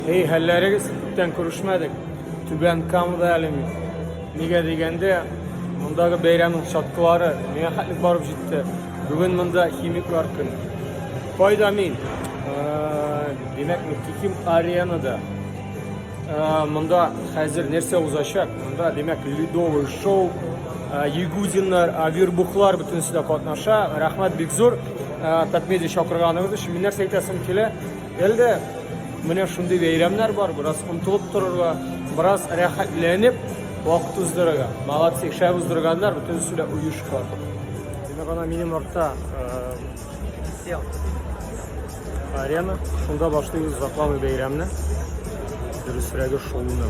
Һей, хәлләрегез, күптән күрешмәдек. Түбән Камада әле мин. Нигә дигәндә, мондагы бәйрәмнең чаткылары миңа хәтлек барып җитте. Бүген монда химиклар көне. Кайда мин? Э, Димәк, мин Киким аренада. Э, Монда хәзер нәрсә узачак? Монда, димәк, ледовый шоу, э, ягудиннар, э, вербухлар бөтенесе дә катнаша. Рәхмәт бик зур. Э, Татмедиа чакырганыгыз өчен. Мин нәрсә әйтәсем килә? Әлдә менә шундый бәйрәмнәр бар, бераз омтылып торырга, бераз рәхәтләнеп вакыт уздырырга. Молодцы, шәп уздырганнар, бөтенесе дә оешка. Димәк, ана минем артта э, арена, шунда башлыйбыз закламый бәйрәмне. Дөресрәге шулны.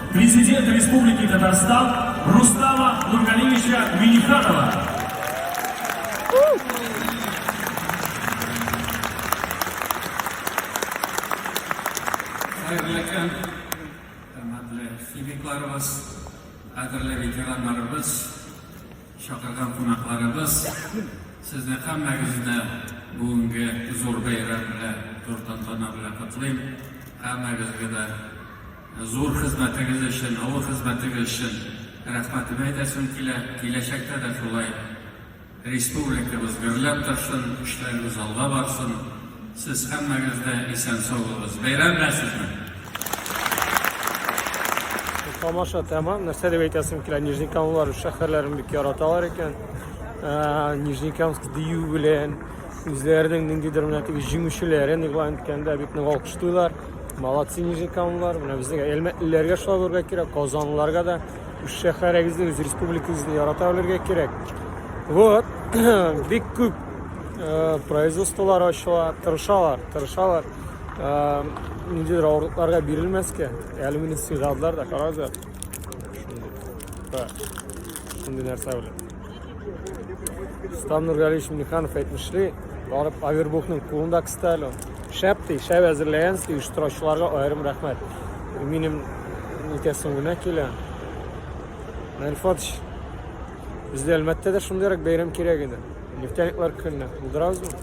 Президент Республики Татарстан Рустама Нургалиевича Миниханова. Хәерле көн, хөрмәтле химикларыбыз, кадерле ветераннарыбыз, шакырган кунакларыбыз, сезне һәммәгезне бүгенге зур бәйрәм белән, зур тантана белән котлыйм. Һәммәгезгә дә Зур хезмәтегез өчен, авыр хезмәтегез өчен рәхмәтемне әйтәсем килә. Киләчәктә дә шулай республикабыз гөрләп торсын, эшләребез алга барсын. Сез һәммәгез дә исән-сау булыгыз. Бәйрәмнәрсезме? Тамаша тәмам. Нәрсә дип әйтәсем килә, Нижнекамлылар үз шәһәрләрен бик яраталар икән. Нижнекамск дию белән үзләренең ниндидер менә теге җиңүчеләрен игълан иткәндә бик нык алкышлыйлар. Молодцы нижнекамлылар. Менә безнең Әлмәтлеләргә шулай булырга кирәк, Казанлыларга да үз шәһәрегезне, үз республикагызны ярата белергә кирәк. Вот, бик күп э, производстволар ачыла, тырышалар, тырышалар. Э, ниндидер авырлыкларга бирелмәскә, әле мине сыйладылар да, карагызлар. Шундый нәрсә белән. Рустам Нургалиевич Миниханов әйтмешли, барып Авербухның кулында кысталю. Шәп ди, шәп әзерләгәнсез, оештыручыларга аерым рәхмәт. Минем итәсем генә килә. Мәрфатович, бездә Әлмәттә дә шундыйрак бәйрәм кирәк иде. Нефтяниклар көнне булдырабызмы?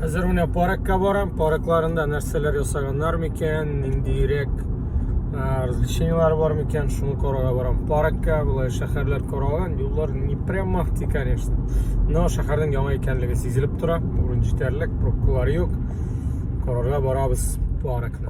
Хәзер менә паркка барам, паркларында нәрсәләр ясаганнар микән, ниндирәк развлечениеләр бар микән, шуны карарга барам. Паркка болай шәһәрләр каралган, юллар не прям махти, конечно. Но шәһәрнең яңа икәнлеге сизелеп тора, урын җитәрлек, пробкалар юк. Карарга барабыз паркны.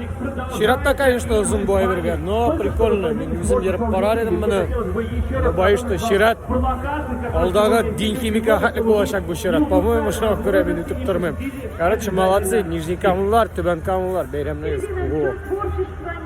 Чиратта, конечно, озын бай бергә, но прикольно. Мин үзем йөреп карар идем моны. Бай что чират. Алдагы дин химика хәтлек булачак бу чират. По-моему, шуңа күрә мин үтеп тормыйм. Короче, молодцы, Нижнекамлылар, Түбәнкамлылар, бәйрәмнәрегез.